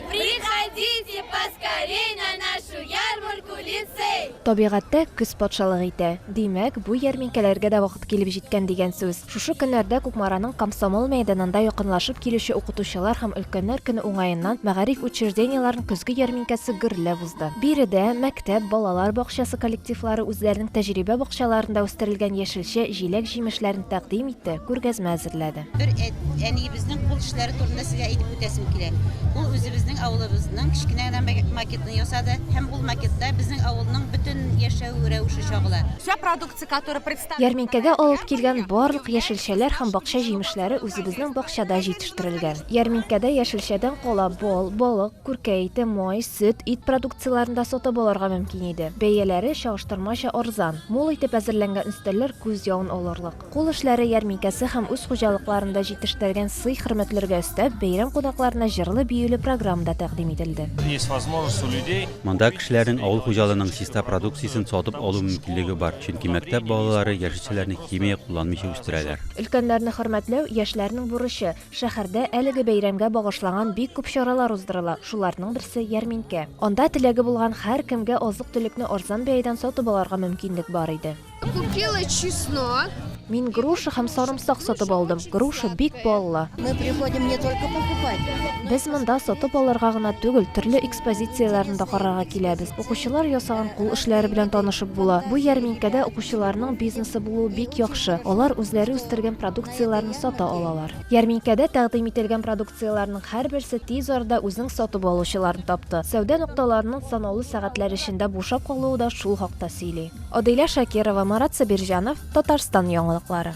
Приходите поскорей на нашу ярмарку лицей! Табигатьтә көз патшалык итә. Димәк, бу ярминкәләргә дә вакыт килеп җиткән дигән сүз. Шушы көннәрдә Кукмараның Комсомол мәйданында якынлашып килүче Укытучылар һәм өлкәннәр көне уңаеннан мәгариф учреждениеләрен көзге ярминкәсе гөрләп узды. Биредә мәктәп, балалар бакчасы коллективлары үзләренең тәҗрибә бакчаларында үстерелгән яшелчә, җиләк-җимешләрен тәкъдим итте, күргәзмә әзерләде. Бер әниебезнең кул эшләре турында сезгә әйтеп үтәсем килә. Ул үзебезнең авылыбызның кечкенә генә макетын ясады һәм ул макетта безнең авылның бөтен яшәү рәвеше чагыла. Вся продукция, которая представлена... Ярминкәгә алып килгән барлык яшелчәләр һәм бакча җимешләре үзебезнең бакчада җитештерелгән. Ярминкәдә яшелчәдән кала бал, балык, күркә ите, май, сөт, ит продукцияләрен дә сатып алырга мөмкин иде. Бәяләре чагыштырмача арзан. Мул итеп әзерләнгән өстәлләр күз явын алырлык. Кул эшләре ярминкәсе һәм үз хуҗалыкларында җитештергән сый-хөрмәтләргә өстәп, бәйрәм кунакларына җырлы-биюле программа да тәкъдим ителде. Есть возможность у людей. Монда кешеләрнең авыл хуҗалыгының чиста продукциясен сатып алу мөмкинлеге бар, чөнки мәктәп балалары яшелчәләрне химия кулланмыйча үстерәләр. Өлкәннәрне хөрмәтләү, яшьләрнең бурычы. Шәһәрдә әлеге бәйрәмгә багышлаган бик күп чаралар уздырыла, шуларның берсе, ярминкә. Анда теләге булган һәркемгә азык-төлекне арзан бәядән сатып алырга мөмкинлек бар иде. Купила чеснок. Мин груша һәм сарымсак сатып алдым. Груша бик баллы. Мы приходим не только покупать. Без монда сатып алырга гына түгел, төрле экспозицияләрне дә карарга киләбез. Укучылар ясаган кул эшләре белән танышып була. Бу ярминкәдә укучыларның бизнесы булуы бик яхшы. Алар үзләре үстергән продукцияләрне сата алалар. Ярминкәдә тәкъдим ителгән продукцияләрнең һәрберсе тиз арада үзенең сатып алучыларын тапты. Сәүдә нокталарының санаулы сәгатьләр эчендә бушап калуы да шул хакта сөйли. Адилә Шакирова, Марат Сабирҗанов, Татарстан яңалыклары.